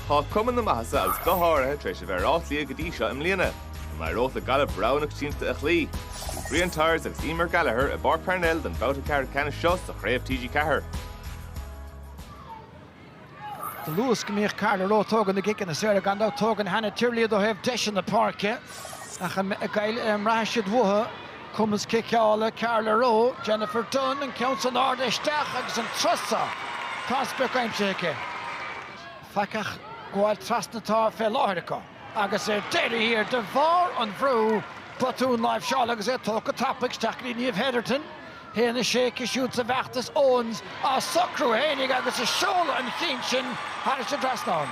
Tá cuma na maitheasa agus go háirithe tar éis a bheith ar Áth Cliath go dtí seo i mbliana, chomh maith ar oth le Gaillimh roghnach tiomanta a chloí. Bhí Brian Tyers agus Emer Gallagher i bPáirc Parnell don bhabhta ceathrú ceannais seo sa chraobh TG4. Do luas go mbíodh Carla Rowe ag tógaint na gciceanna saora gan dabht. Tógann Hannah Tyrrell iad ó thaobh deis na páirce ach n'fheadar an mbraithfidh siad uathu Cumas ciceála Carla Rowe, Jennifer Dunne, an ceann san ard isteach agus an turas so tá an sprioc aimsithe aici. Faic ach gabháil trasna atá fé láthair acu agus ar deireadh thiar, de bharr an bhrú, botún láimhseála agus é tógtha go tapaidh isteach go dtí Niamh Hetherton. A haon a sé aici siúd sa bhfeachtas, Owens á socrú fhéinig agus ag seoladh an chinn sin thairis an dtrasnán.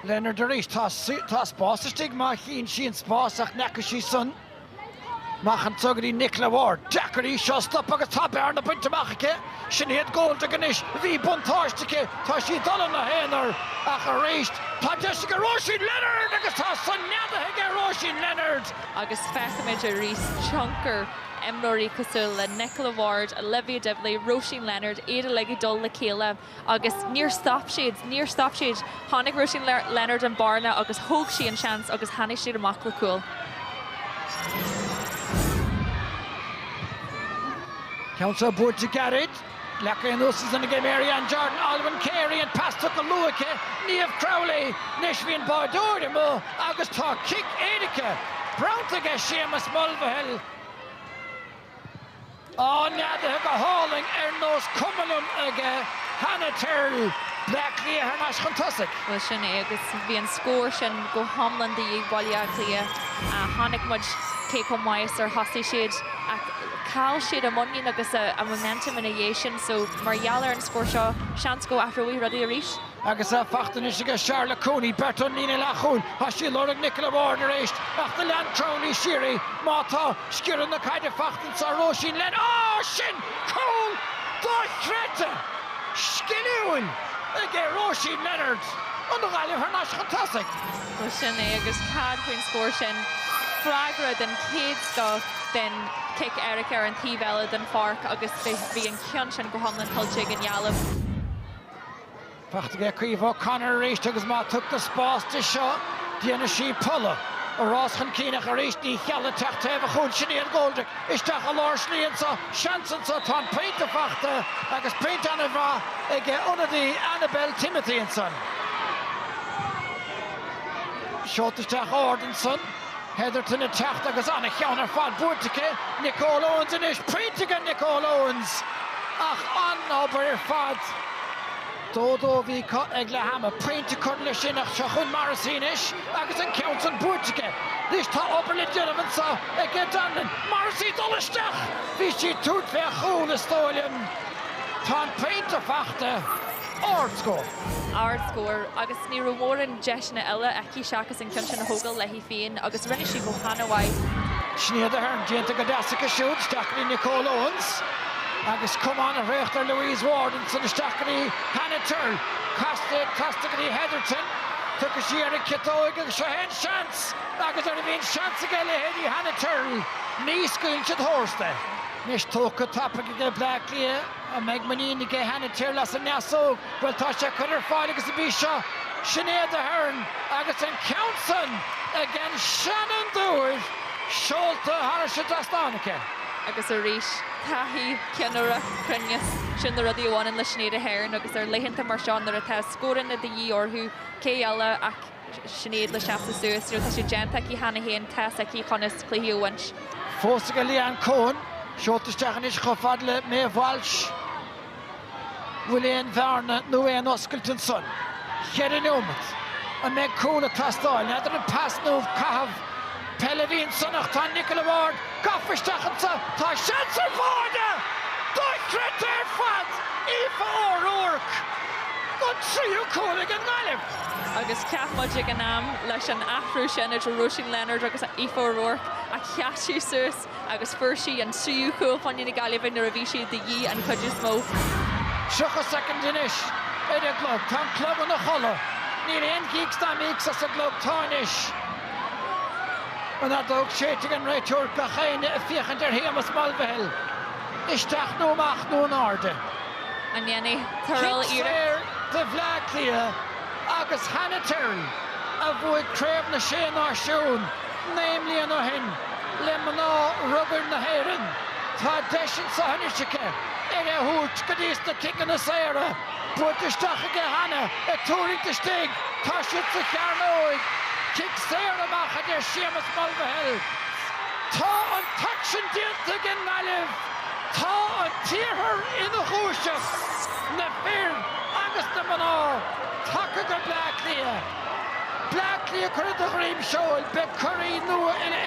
Leonard arís. Tá spás istigh má chíonn sí an spás ach n'fheaca sí san. Amach anso go dtí Nicola Ward, Deacair í seo a stopadh agus tá bearna bainte amach aici. Sinéad Goldrick anois, bhí buntáiste aici, tá sí ag dul ina haonar ach arís tá deis aige Róisín Leonard agus tá san neadaithe aige Róisín Leonard. Agus feicimid arís tionchar imreoirí cosúil le Nicola Ward, Olivia Divilly, Róisín Leonard, iad uilig ag dul le chéile. Agus níor stop siad. Níor stop siad. Chonaic Róisín Leonard an bearna agus thóg sí an seans agus tháinig siad amach le cúl. Ceann seo buailte gairid. Leagtha anuas ansan aige Maryanne Jordan, Olwen Carey, an pas tugtha go luath aici, Niamh Crowley, anois bhí an báireoir amuigh agus tá cic éirice bronnta aige Séamus Mulvihill. Á neadaithe go hálainn ar nós cuma liom aige Hannah Tyrrell, Bleá Cliath thar n-ais chun tosaigh. Bhuel sin é agus bhí an scór sin go hiomlán de dhíth ar Bhaile Átha Cliath. Chonaic muid cé chomh maith is ar thosaigh siad ach chaill siad a muinín agus a momentum ina dhiaidh sin so mar gheall ar an scór seo seans go athróidh rudaí arís. Agus í fachta anois aige Charlotte Cooney, beirt ón líne leathchúil, tá sí ag lorg Nicola Ward arís ach do lean Crowley siar í. Má tá, sciorradh na caide fachta anso Róisín Leonard. Á! Sin cúl dochreidte! Sciliúil aige Róisín Leonard, an Ghaillimh thar n-ais chun tosaigh. Bhuel sin é agus cad faoin scór sin. Freagra den chéad scoth den chic éirice ar an taobh eile den pháirc agus bhí an ceann sin go hiomlán tuillte ag an Ghaillimh. Fachta aige Caoimhe O'Connor arís agus má tugtar spás di seo, déanfaidh sí polladh. Ag rás chun cinn ach arís ní cheallaigh teacht taobh an chúil Sinéad Goldrick isteach i lár slí anseo. Seans anseo, tá an pointe faighte agus pointe an-mhaith aige an ionadaí Annabelle Timothy ansan. Seolta isteach ard ansan. Hetherton ag teacht agus an-cheann ar fad buailte aici, Nicole Owens anois, pointe aige Nicole Owens ach an-obair ar fad a dó a dó bhí ag Glaschu le hama pointe a chur leis sin ach seo chun Morrissey anois agus an ceann san buailte aici anois tá obair le déanamh anso ag O'Donovan, Morrissey ag dul isteach bhí sí ag tnúth le cúl is dóigh liom tá an pointe fachta ard go. Ardscór agus ní raibh mórán deiseanna eile aici seachas an ceann sin a thógail léi féin agus rinne sí go h-ana mhaith. Sinéad Aherne déanta go deas aici siúd isteach go dtí Nicole Owens agus cuma ana thraochta ar Louise Ward. Ansin isteach go dtí Hannah Tyrrell. Casta, casta go dtí Hetherton. Tiocfaidh sí ar an gciotóig agus seo é an seans! Agus nuair a bhíonn seans ag a leithéidí Hannah Tyrrell ní scaoileann siad tharstu. Anois tógtha tapaidh aige Bleá Cliath. An mbeidh muinín aige Hannah Tyrrell as an ndeasóg? Bhuel, tá sé curtha ar fáil agus ab í seo, Sinéad Aherne agus an ceann san ag an seanfhondúir seolta thar an trasnán aici. Agus arís, taithí, ceannaireacht, cruinneas, sin na rudaí a bhaineann le Sinéad Aherne agus ar laethanta mar seo nuair atá scóranna de dhíth orthu, cé eile ach. Sinéad le seasamh suas, tá sé déanta aici cheana féin, tá's aici conas cluichí a bhaint. Fós ag Leanne Coen. Seolta isteach anois chomh fada le Maeve Walsh. An bhfuil aon bhearna nó aon oscailt ansan? Cheithre neomat. An mbeidh cúl ag teastáil? N'fheadar an pas nó caitheamh peile a bhí ansan ach tá Nicola Ward gafa isteach anso. Tá seans ar bháire! Dochreidte ar fad! Aoife O'Rourke! An tríú cúl ag an nGaillimh! agus cheap muid ag an am, leis an athrú sin idir Róisín Leonard agus Aoife O'Rourke, a sheas sí suas agus fuair sí an tríú cúl i gcomhair na Gaillimhe nuair a bhí sé de dhíth an chuid is mó. 30 soicind anois ar an gclog. Tá an clog ina chodladh. Níl aon gíocs ná míocs as an gclog. Tá anois. An fheadóg séidte ag an réiteoir, gach éinne ag féachaint ar Shéamus Mulvihill. Isteach nó amach nó in airde. An ndéanfaidh Tyrrell iarracht? Saor do Bhleá Cliath agus Hannah Tyrrell a bhuaigh Craobh na Sé Náisiún naoi mbliana ó shin le mná rugair na hÉireann. Tá deis anseo anois aici é a thabhairt go dtís na ciceanna saora. Buailte isteach aige Hannah ag tuirlingt istigh. Tá siad sa chearnóig. Cic saor amach a deir Séamus Mulvihill. Tá an t-aicsean déanta ag an nGaillimh. Tá an tIarthar ina dhúiseacht, na fir agus na mná tagtha go Bleá Cliath. Bleá Cliath curtha de dhroim seoil, beidh curaí nua in.